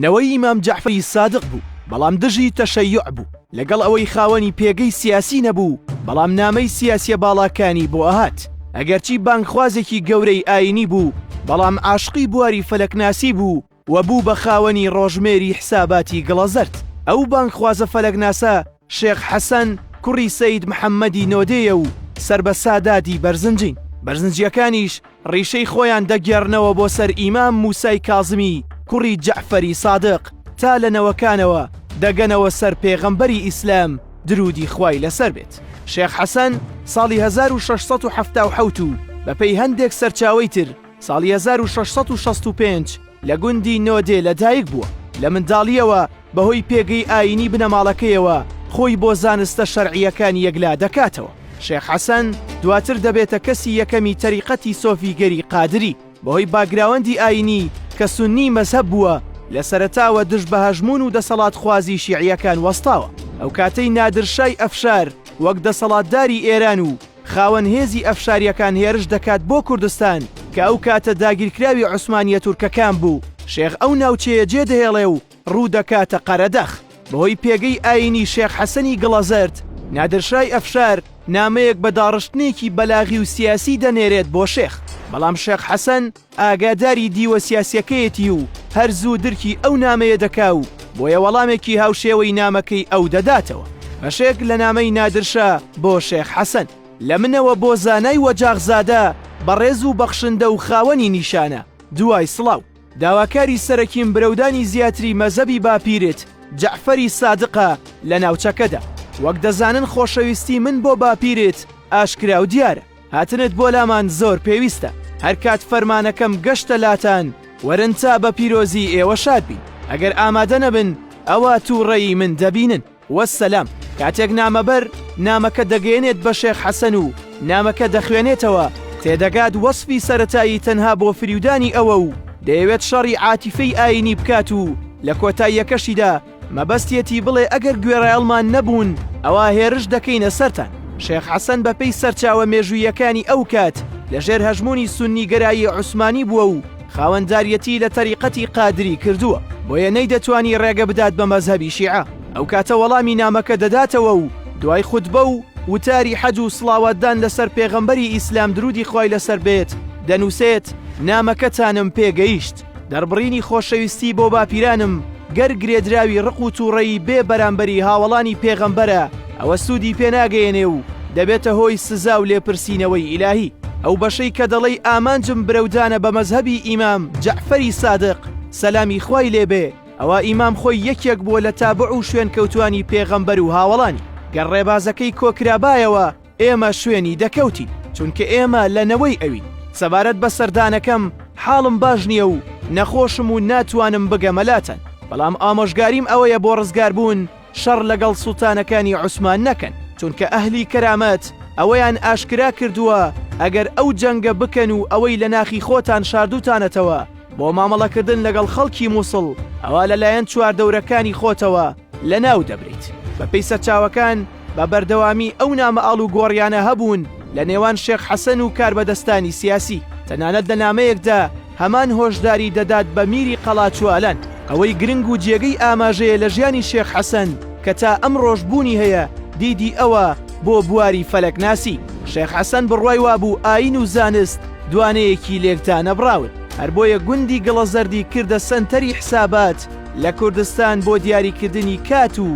نەوەی ئیمام جەعفەری سادق بوو، بەڵام دژی تەشەیوع بوو، لەگەڵ ئەوەی خاوەنی پێگەی سیاسی نەبوو، بەڵام نامەی سیاسیە باڵاکانی بۆ ئەهات، ئەگەرچی بانگخوازێکی گەورەی ئاینی بوو، بەڵام عاشقی بواری فەلەکناسی بوو و بوو بە خاوەنی ڕۆژمێری حساباتی گڵەزەرد، ئەو بانگخوازە فەلەکناسە شێخ حەسەن کوڕی سەید محەممەدی نۆدێیە و سەر بە ساداتی بەرزنجین، بەرزنجییەکانیش ڕیشەی خۆیان دەگێڕنەوە بۆ سەر ئیمام مووسای کازمی کوڕی جەعفەری سادق تا لە نەوەکانەوە دەگەنەوە سەر پێغەمبەری ئیسلام دروودی خوای لەسەر بێت. شێخ حەسەن ساڵی هەزار و شەش سەد و حەفتا و حەوت و بەپێی هەندێک سەرچاوەی تر، ساڵی هەزار و شەش سەد و شەست و پێنج لە گوندی نۆدێ لەدایک بووە، لە منداڵییەوە بەهۆی پێگەی ئایینی بنەماڵەکەیەوە خۆی بۆ زانستە شەرعییەکان یەکلا دەکاتەوە. شێخ حەسەن دواتر دەبێتە کەسی یەکەمی تەریقەتی سۆفیگەری قادری، بەهۆی باکگراوەندی ئایینی کە سوننی مەزهەب بووە، لە سەرەتاوە دژ بە هەژموون و دەسەڵاتخوازی شیعییەکان وەستاوە، ئەو کاتەی نادر شای ئەفشار وەک دەسەڵاتداری ئێران و خاوەن هێزی ئەفشاریەکان هێرش دەکات بۆ کوردستان کە ئەو کاتە داگیرکراوی عوسمانیە تورکەکان بوو شێخ ئەو ناوچەیە جێ دەهێڵێ و ڕوو دەکاتە قەرەدەخ بەهۆی پێگەی ئاینی شێخ حەسەنی گڵەزەرد نادرشای ئەفشار نامەیەک بە داڕشتنێکی بەلاغی و سیاسی دەنێرێت بۆ شێخ بەڵام شێخ حەسەن ئاگاداری دیوە سیاسیەکەیەتی و هەر زوو درکی ئەو نامەیە دەکا و بۆیە وەڵامێکی هاوشێوەی نامەکەی ئەو دەداتەوە. بەشێک لە نامەی نادر شا بۆ شێخ حەسەن. لە منەوە بۆ زانای وەجاغزادە بەڕێز و بەخشندە و خاوەنی نیشانە، دوای سڵاو، داواکاری سەرەکیم برەودانی زیاتری مەزەبی باپیرت جەعفەری سادقە لە ناوچەکەدا. وەک دەزانن خۆشەویستی من بۆ باپیرت ئاشکرا و دیارە. هاتنت بۆ لامان زۆر پێویستە، هەرکات فەرمانەکەم گەشتە لاتان وەرن تا بە پیرۆزی ئێوە شاد بین، ئەگەر ئامادە نەبن ئەوا تووڕەیی من دەبینن. وەسەلام. کاتێک نامەبەر نامەکە دەگەیەنێت بە شێخ حەسەن و نامەکە دەخوێنێتەوە، تێدەگات وەسفی سەرەتایی تەنها بۆ فریودانی ئەوە و دەیەوێت شەڕی عاتیفەی ئایینی بکات و لە کۆتاییەکەشیدا، مەبەستیەتی بڵێ ئەگەر گوێڕایەڵمان نەبوون ئەوا هێرش دەکەینە سەرتان. شێخ حەسەن بەپێی سەرچاوە مێژووییەکانی ئەو کات لە ژێر هەژموونی سوننیگەرایی عوسمانی بووە و خاوەنداریەتی لە تەریقەتی قادری کردووە، بۆیە نەیدەتوانی ڕێگە بدات بە مەزهەبی شیعە. ئەو کاتە وەڵامی نامەکە دەداتەوە و دوای خوتبە و وتاری حەج و سڵاواتدان لەسەر پێغەمبەری ئیسلام دروودی خوای لەسەر بێت دەنووسێت، نامەکەتانم پێگەیشت. دەربڕینی خۆشەویستی بۆ باپیرانم گەر گرێدراوی ڕق و تووڕەیی بێ بەرامبەری هاوەڵانی پێغەمبەرە ئەوە سوودی پێ ناگەیەنێ و دەبێتە هۆی سزا و لێپرسینەوەی ئیلاهی. ئەو بەشەی کە دەڵێی ئامانجم برەودانە بە مەزهەبی ئیمام جەعفەری سادق، سەلامی خوای لێ بێ، ئەوا ئیمام خۆی یەکێک بووە لە تابوع و شوێنکەوتووانی پێغەمبەر و هاوەڵانی. گەر ڕێبازەکەی کۆکرابایەوە، ئێمە شوێنی دەکەوتین چونکە ئێمە لە نەوەی ئەوین سەبارەت بە سەردانەکەم حاڵم باش نییە و نەخۆشم و ناتوانم بگەمەلاتەن بەڵام ئامۆژگاریم ئەوەیە بۆ ڕزگاربوون شەڕ لەگەڵ سوڵتانەکانی عوسمان نەکەن چونکە ئەهلی کەرامەت ئەوەیان ئاشکرا کردووە ئەگەر ئەو جەنگە بکەن و ئەوەی لە ناخی خۆتان شاردوتانەتەوە بۆ مامەڵەکردن لەگەڵ خەڵکی مووسڵ ئەوا لەلایەن چواردەورەکانی خۆتەوە لەناو دەبریت. بەپێی سەرچاوەکان بە بەردەوامی ئەو نامە ئاڵوگۆڕیانە هەبوون لە نێوان شێخ حەسەن و کاربەدەستانی سیاسی، تەنانەت لە نامەیەکدا هەمان هۆشداری دەدات بە میری قەڵاچوالان. ئەوەی گرنگ و جێگەی ئاماژەیە لە ژیانی شێخ حەسەن کە تا ئەمڕۆش بوونی هەیە، دیدی ئەوە بۆ بواری فەلەکناسی. شێخ حەسەن بڕوای وابوو ئایین و زانست دوانەیەکی لێکدانەبڕاون، هەر بۆیە گوندی گڵەزەردی کردە سەنتەری حسابات، لە کوردستان بۆ دیاریکردنی کات و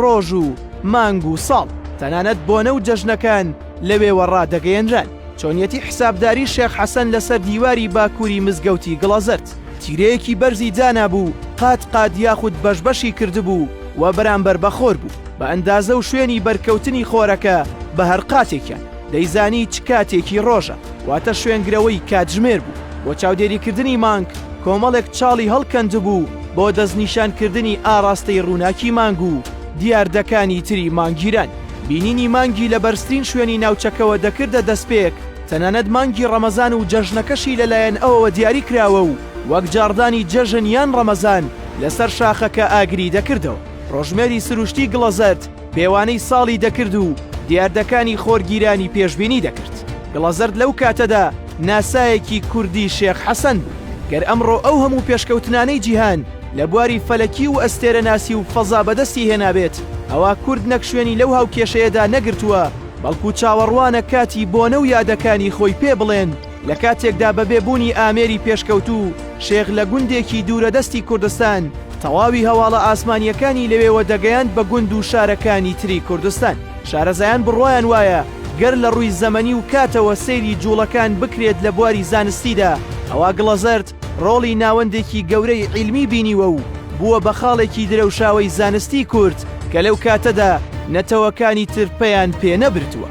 ڕۆژ و مانگ و ساڵ تەنانەت بۆنە و جەژنەکان لەوێوە ڕادەگەیەنران. چۆنیەتی حسابداری شێخ حەسەن لەسەر دیواری باکووری مزگەوتی گڵەزەرد تیرەیەکی بەرزی دانابوو و قات قات یاخود بەش بەشی کردبوو و بەرامبەر بە خۆر بوو بە ئەندازە و شوێنی بەرکەوتنی خۆرەکە بە هەر قاتێکیان دەیزانی چ کاتێکی ڕۆژە، واتە شوێنگرەوەی کاتژمێر بوو. بۆ چاودێریکردنی مانگ کۆمەڵێک چاڵی هەڵکەندبوو بۆ دەستنیشانکردنی ئاڕاستەی ڕووناکی مانگ و دیاردەکانی تری مانگگیران. بینینی مانگی لە بەرزترین شوێنی ناوچەکەوە دەکردە دەستپێک، تەنانەت مانگی ڕەمەزان و جەژنەکەشی لەلایەن ئەوەوە دیاری کراوە و وەک جاڕدانی جەژن یان ڕەمەزان لەسەر شاخەکە ئاگری دەکردەوە. ڕۆژمێری سروشتی گڵەزەرد، پێوانەی ساڵی دەکرد و دیاردەکانی خۆرگیرانی پێشبینی دەکرد. گڵەزەرد لەو کاتەدا ناسایەکی کوردی شێخ حەسەن بوو. گەر ئەمڕۆ ئەو هەموو پێشکەوتنانەی جیهان لە بواری فەلەکی و ئەستێرەناسی و فەزا بەدەستی هێنابێت، ئەوا کورد نەک شوێنی لەو هاوکێشەیەدا نەگرتووە، بەڵکو چاوەڕوانە کاتی بۆنە و یادەکانی خۆی پێ بڵێن، لە کاتێکدا بە بێ بوونی ئامێری پێشکەوتوو شێخ لە گوندێکی دوورە دەستی کوردستان تەواوی هەواڵە ئاسمانییەکانی لەوێوە دەگەیاند بە گوند و شارەکانی تری کوردستان. شارەزایان بڕوایان وایە گەر لە ڕووی زەمەنی و کاتەوە سەیری جووڵەکان بکرێت لە بواری زانستیدا ئەوا گڵەزەرد، ڕۆڵی ناوەندێکی گەورەی عیلمی بینیوە و بووە بە خاڵێکی درەوشاوەی زانستی کورد کە لەو کاتەدا نەتەوەکانی تر پەیان پێ نەبردووە.